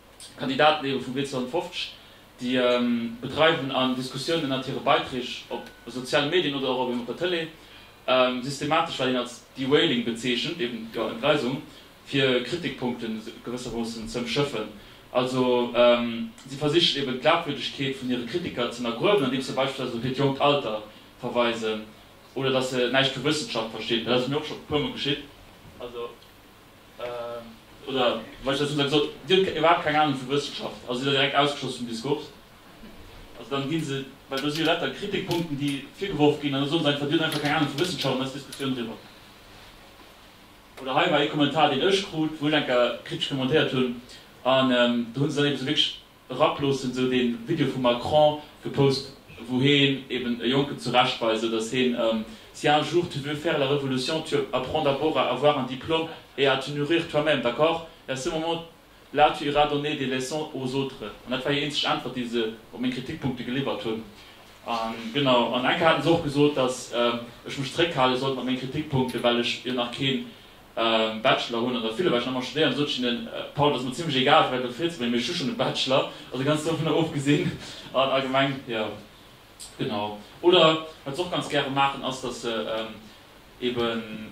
Kandidaten éiere vu Bléck 250, déi bedreiwen an Diskussioun ënnert hire Beiträg op soziale Medien oder och eben op der Tëlee systematesch, wat een als Derailing bezeechent, eben jo Entgleisung, fir Kritikpunkte gewëssermoossen z'ëmschëffen. Also si versichen eben d'Glaubwürdegkeet vun hire Kritiker z'ënnergruewen, andeems se beispillsweis op hiert jonkt Alter verweisen oder datt se näischt vu Wëssenschaft verstinn. Dat ass mir och scho e puermol geschitt. Oder wa ech dat esou gesot, Dir hutt iwwerhaapt keng Anung vu Wëssenschaft, also sidd Der direkt ausgeschloss vum Diskurs. Also dann ginn se, well do si jo lauter Kritikpunkten, déi virgeworf ginn, an da soen se einfach, Dir hutt einfach keng Anung vu Wëssenschaft, an da ass d'Diskussioun eriwwer. Oder hei war ee Kommentar, deen ech krut, wou ech enker kritesch kommentéiert hunn, an do hu se dann eben esou wierklech. erap loossen, sou den Video vum Macron gepost wou heen eben e Jonken zurechtweist, sou dass heen Si un jour tu veux faire la révolution tu apprends d'abord à avoir un diplôme et à te nourrir toi-même, d'accord? Et à ce moment là tu iras donner des leçons aux autres An dat war hir eenzeg Äntwert déi se op meng Kritikpunkte geliwwert hunn. A genau, an eng Kéier haten se och gesot dass ech mech zeréckhale sollt mat menge Kritikpunkten, well ech jo nach keen Bachelor hunn an der Villebäck nach emmer studéieren, sot ech hinnen, Paul, et ass mer zimlech egal, firwat de Fritz, well hien huet just schonn e Bachelor, also ganz dovunner ofgesinn, an a Gemeng, jo, genau. Oder wat se och ganz gäre maachen, ass, datt se eeben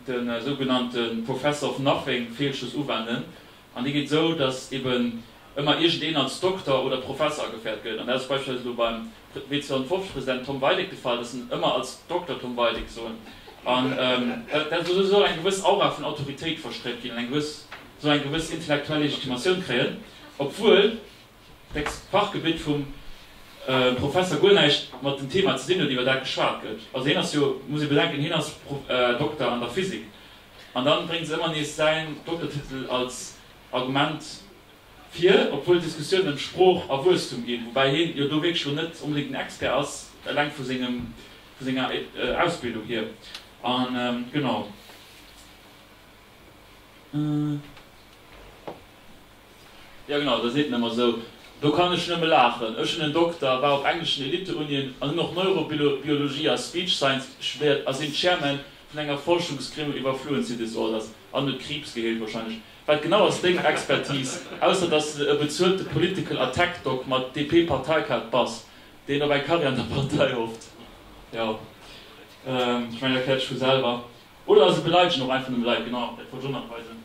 de sougenannte Professor of Nothing-Feelschluss uwenden, An déi geet esou, datt eben ëmmer iergendeen als Dokter oder Professer ageféiert gëtt. An dat ass beispillsweis elo beim W250-President Tom Weideck de Fall, datt se en ëmmer als Dokter Tom Weideck soen. An dat ass esou, soll eng gewëss Aura vun Autoritéit verstréit ginn an eng gewëss, soll eng gewëss intellektuell Legitimatioun kréien, obwuel Text, D'Fachgebitt vum Professer guer näischt mat dem Thema ze dinn huet, iwwer dat geschwat gëtt. Also hien ass jo, muss ee bedenken, hien ass Dokter an der Physik. An dann bréngt se ëmmer nees säin Doktertitel als Argument vir, obwuel d'Diskussiounen ëm Sprooch a Wuesstum ginn, woubäi hien jo do wierklech elo net onbedéngt den Expert ass, eleng vu senger Ausbildung hier. An genau. Jo genau, dat ass nit nemmer esou. Do kann ech nëmme laachen. Ech hunn en Dokter, war op engleschen Elitteunien an hunn och Neurobiologie a Speech Science studéiert a sinn Chairman vun enger Forschungsgremium iwwer Fluency Disorders an huet Kriibs geheelt wahrscheinlech. Wat genau ass deng Expertise, ausser dass s de e bezuelte Political a Tech Doc mat DP Parteikaart bass, deen op eng Karriär an der Partei hofft? Jo, ech mengen dat erkläert sech vu selwer. Oder ass et beleideschend och einfach nëmme Leit? Genau, dat wollt ech och nach weisen.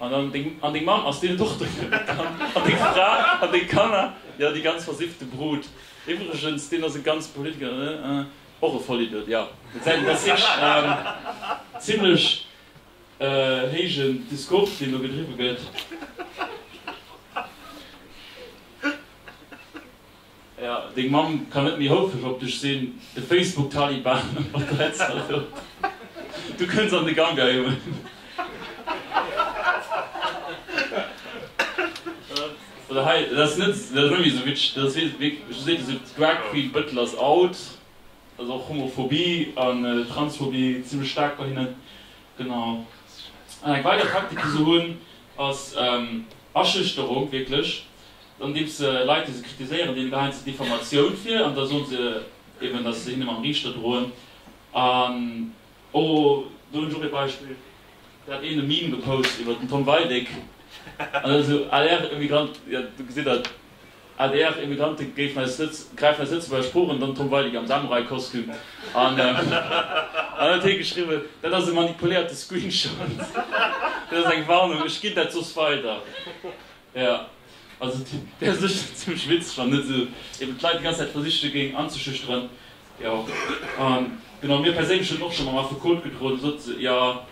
An deng Mamm ass dir Dochter vun der Kand? An deng Fra? An deng Kanner? Jo, déi ganz versiffte Brut. Iwwregens, deen ass e ganze Politiker, ne? Ëh, och e Vollidiot, jo. Et säi denn, dass ech en zimlech héijen Discours, deen do gedriwwe gëtt. Ja, deng Mamm kann net méi houfreg op dech sinn, de Facebook Taliban op der Hetzerlou. Du kënns an de Gangae un. Oder hei, dat ass net, dat ass net méi esou witzeg, dat ass wierklech, do seet ee sou, Drag Queen Bëttel ass out, also och Homophobie an Transphobie zimlech staark bei hinnen. Genau. An eng weider Praktik, déi se hunn, ass Aschüchterung, wierklech. Dann gëtt et Leit, déi se kritiséieren, deene geheien se Diffamatioun vir, an da soe se eben, datt se hinne mam Riichter droen. An o, do hunn ech och ee Beispill, do hat een e Meme gepost iwwer den Tom Weidig, an da sou, adr-Emigranten, jo, do gesitt Der, adr-Emigranten gräifen eis Lëtzebuerger Sprooch un, an dann Tom Weidig am Samurai-Kostüm. An dann huet hee geschriwwen, Dat ass e manipuléierte Screenshot. Dat ass eng Warnung, ech ginn dat soss weider. Jo, also et wär sécher zimlech witzeg, wann net esou eben d'Leit déi ganz Zäit versiche géingen anzeschüchteren. Jo, genau, mir perséinlech hunn och scho mam Affekot gedroen, da sot se, jo,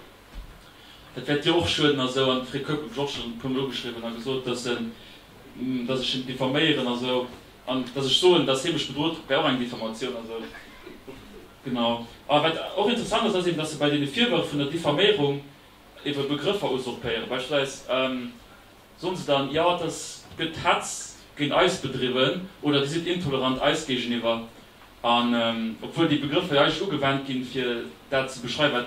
dat wäert dir och schueden a sou. An de Fred Keup huet mech och schonn e puermol ugeschriwwen a gesot, datt en, datt ech hien diffaméieren a sou, an datt ech soen, datt hie mech bedrot huet, wär och eng Diffamatioun a sou. Genau. A wat och interessant ass, ass eben, datt se bei deene Virwërf vun der Diffaméierung, Iwwer Begrëffer usurpéieren beispillsweis soen se dann, jo et ass, gëtt Hetz géint eis bedriwwen oder Dir sidd intolerant eis géigeniwwer, an obwuel déi Begrëffer jo eigentlech ugewent ginn, fir dat ze beschreiwen, wat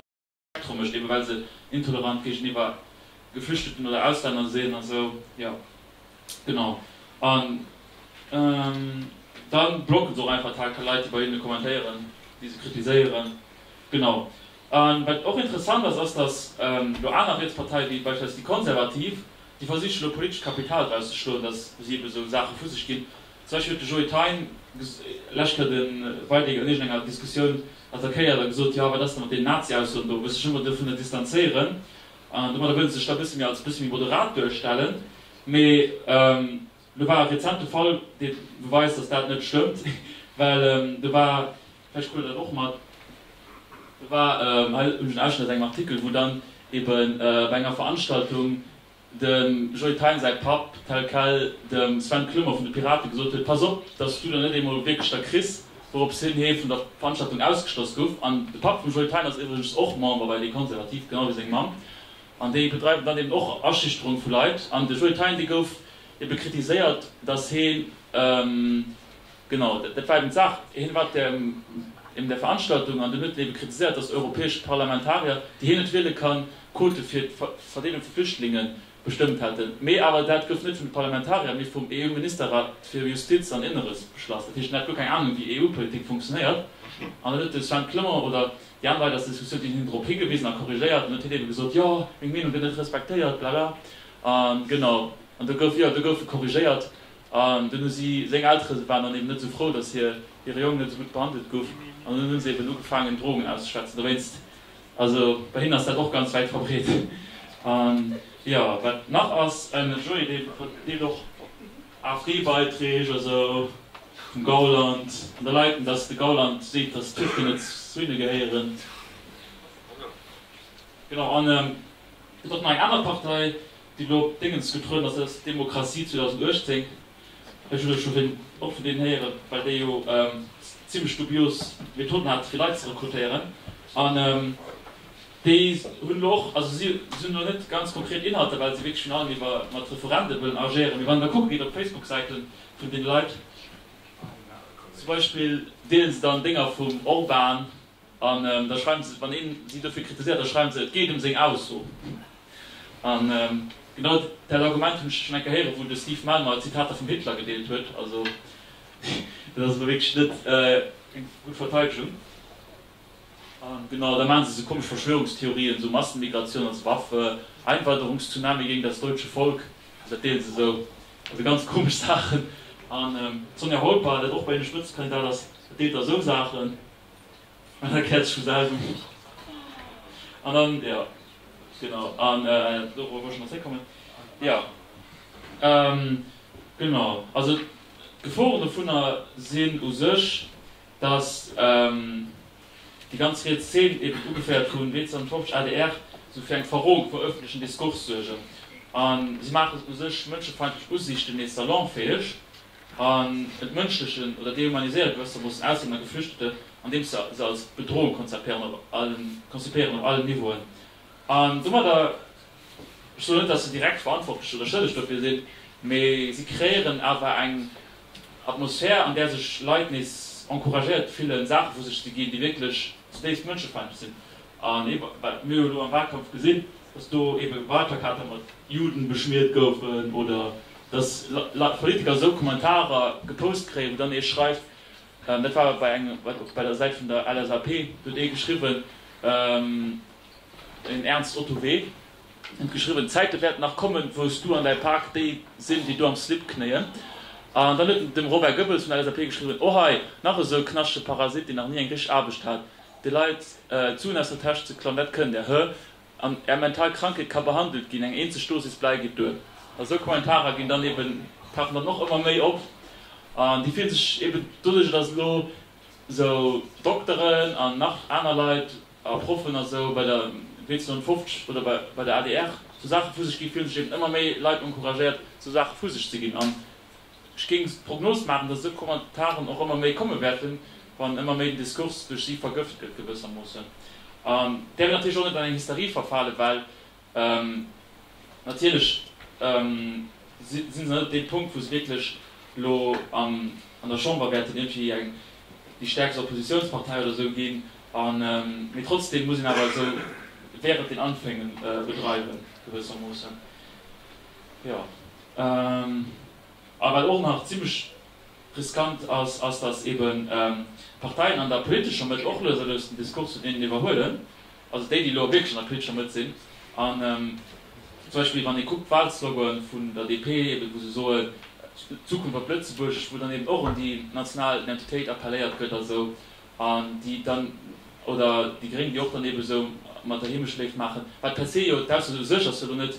d'Spektrum mécht, ebe well se intolerant géigeniwwer Geflüchteten oder Auslänner sinn a sou. Jo, genau. An da blocke se och einfach d'HK-Leit, déi bei hinne kommentéieren, déi se kritiséieren. Genau. A wat och interessant ass, ass, datt elo aner Rietsparteien, wéi beispillsweis déi Konservativ, déi versichen elo politescht Kapital draus ze schloen, datt si ebe sou Saache vu sech ginn. Zum Beispill huet de Joe Thein d'lescht Kéier de Weidegg an iergendenger Diskussioun attackéiert a gesot, Jo, wat ass da mat deenen Nazi-Aussoen do? Muss sech ëmmer dovunner distanzéieren. Domadder wëllt e sech da e bësse méi als e bësse méi moderat duerstellen. Mee. Elo war e rezente Fall, dee beweist, datt dat net stëmmt, well do war, vläicht krut Der dat och mat, do war, hei hunn ech en Ausschnëtt aus engem Artikel, wou dann ebe bei enger Veranstaltung de Joly Thein säi Papp tel quel dem Sven Clement vun de Pirate gesot huet, Pass op, datt s du der net eemol wierklech der kriss. Wourop hin hee vun der Veranstaltung ausgeschloss gouf. An de Papp vum Joly Thein ass iwwregens och Member bei Les Conservatifs, genau wéi seng Mamm. An déi bedreiwen dann eben och Aschüchterung vu Leit. An de Joly Thein, dee gouf Ebe kritiséiert, datt heen, genau, dat war eben d'Saach, heen war em där Veranstaltung an dunn huet en ebe kritiséiert, datt europäesch Parlamentarier, déi heen net wiele kann, d'Quote fir d'Verdeelung vu Flüchtlinge bestëmmt hätten, mee awer dat gouf net vun de Parlamentarier, mee vum EU-Ministerrat fir Justiz an Inneres beschlass. Dat heescht, en hat guer keng Anung, wéi EU-Politik funktionéiert. An dann huet de Sven Clement oder déi aner Leit aus der Diskussioun, déi hunn him drop higewisen a korrigéiert, an huet hien ebe gesot, jo, meng Meenung gëtt net respektéiert, blala. An genau, an do gouf, jo, do gouf e korrigéiert. An dunn hu si, seng Eltere waren dann eben net esou frou, datt hir, hire Jong net esou gutt behandelt gouf. An dunn hu se eben ugefaangen, Drogen auszeschwätzen. Dowéinst, also bei hinnen ass dat och ganz wäit verbreet. An jo, wat nach ass, en Joe, dee deelt och AFD-Beiträg, also vum Gauland an de Leiten, datt de Gauland seet, datt d'Türken net zu hinne gehéieren. Genau, an Et ass och nach eng aner Partei, déi elo op Déngens getrueden ass, dat ass Demokratie 2018. Ech hunn elo virun och vun deenen héieren, well déi jo zimlech dubios Methoden hat fir Leit ze rekrutéieren. An déi hunn elo och, also si hunn elo net ganz konkret Inhalter, well si wierklech virun allem iwwer mat Referende wëllen agéieren. Mee wann een da kucke geet op d'Facebook-Säite vun deene Leit, zum Beispill deele se dann Dénger vum Orban, An da schreiwen se, wann een si dofir kritiséiert, da schreiwen se, et geet ëm seng Ausso. An genau dat Argument hunn ech schonn eng Kéier héieren, wou de Steve Malmer Zitater vum Hitler gedeelt huet. Also dat ass elo wierklech net keng gutt Verteidegung. A genau da maachen se esou komesch Verschwörungstheorien, esou Massenmigration als Waffe, Einwanderungstsunami gegen das deutsche Volk, also dat deelen se esou, also ganz komesch Saachen. An d'Sonja Holper, dat och bei hinne Spëtzekandidat ass, deelt da esou Saachen. An da krätzt scho selwer um Buch. An dann, ja, genau. An dorop wollt ech nach zréckkommen. Ja, genau. Also d'Geforen dovunner sinn u sech, datt déi ganz riets Zeen, eben ugeféiert vu 1950, adr, esou fir eng Verroung vum ëffentlechen Diskurs suergen. A si maachen u sech mënschefeindlech Usiichten nees salonfäeg. an entmënschlechen oder dehumaniséiere gewësse Moossen Auslänner, Geflüchteten, andeems se se als Bedrohung konzipéieren op allen konzipéieren op allen Niveauen. An domadder, ech soen net, dass se direkt verantwortlech oder schëlleg dofir sinn, mee si kreéieren awer eng Atmosphär, an där sech Leit nees encouragéiert fillen, Saache vu sech ze ginn, déi wierklech zutiefst mënschefeindlech sinn. An eebe wat mir jo elo am Wahlkampf gesinn, dass do eebe Wahlplakater mat Juden beschmiert goufen oder, Dass Politiker esou Kommentarer gepost kréien, wou dann ee schreift, dat war bei engem, wat och bei der Säit vun der LSAP, do huet ee geschriwwen, den Ernst Ottowee huet geschriwwen, D'Zäite wäerten nach kommen, wou s du an däi Pak déi sinn, déi do am Slip knéien. An dann huet de Robert Goebbels vun der LSAP geschriwwen, O hei, nach esou e knaschtege Parasit, deen nach ni eng richteg Aarbecht hat, de Leit d'Suen aus der Täsch ze klauen, dat kënnt der, hö, An är mental Krankheet ka behandelt ginn, eng eenzeg Dosis bleiw geet duer. A sou Kommentarer ginn dann eben, tauchen dann och ëmmer méi op. An déi fillen sech eben doduercher, dass elo sou Dokteren an nach aner Leit a Proffen a sou bei der Médecins 150 oder bei bei der adr sou Saache vu sech ginn, fillen sech eben ëmmer méi Leit encouragéiert, sou Saache vu sech ze ginn. An Ech géing d'Prognos maachen, datt esou Kommentaren och ëmmer méi komme wäerten, wann ëmmer méi den Diskurs duerch si vergëft gëtt gewëssermoossen. An däerfen natierlech och net an eng Hysterie verfalen, well natierlech si se net op deem Punkt, wou se wierklech elo an der Chamber wäerten iergendwéi déi stäerkst Oppositiounspartei oder esou ginn. Mee trotzdeem muss een awer esou während den Anfängen bedreiwen gewëssermoossen. Jo. A wat och nach zimlech riskant ass, ass, datt eeben d'Parteien an der politescher Mëtt och lues a lues den Diskurs vun deenen iwwerhuelen, also déi, déi elo wierklech an der politescher Mëtt sinn. An zum Beispill, wann ee kuckt d'Wahlsloganen vun der DP, eeben wou se soen, d'Zukunft op Lëtzebuergesch, wou dann eeben och un déi national Identitéit appelléiert gëtt a sou, an déi dann, oder déi Gréng, déi och dann eeben esou mat der Heemecht léif maachen, wat per se jo d'Ausso u sech ass jo elo net,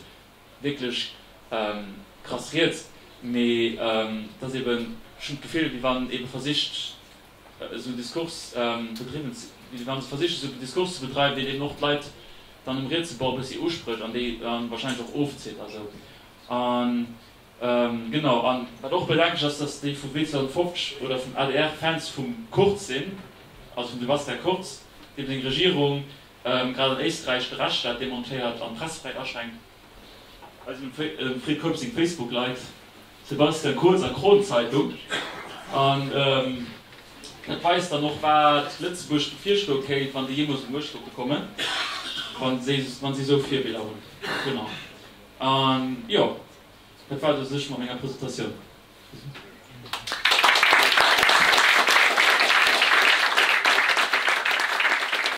wierklech krass riets, mee et ass eben, ech hunn d'Gefill, wéi wann ebe versicht esou Diskurs bedriwwen, wéi wann se versichen esou Diskurs ze bedreiwen, deen eben och d'Leit dann um rietse Bord e bëssi usprécht an déi dann wahrscheinlech och ofzitt a sou. An genau, an wat och bedenklech ass, datt déi vu Bild 2050 oder vum adr Fans vum Kurz sinn, also vum Sebastian Kurz, deem seng Regierung Grad an Éisträich de Rechtsstaat demontéiert an d'Pressefräiheet aschränkt. Eis dem Fred Keup seng Facebook-Leit, Sebastian Kurz a Kron-Zeitung. An dat weist dann och, wat Lëtzebuerg bevirstoe kéint, wann déi jeemools un d'Muecht sollte kommen, wann si esou Virbiller hunn. Genau. A jo, dat war et u sech mat menger Presentatioun.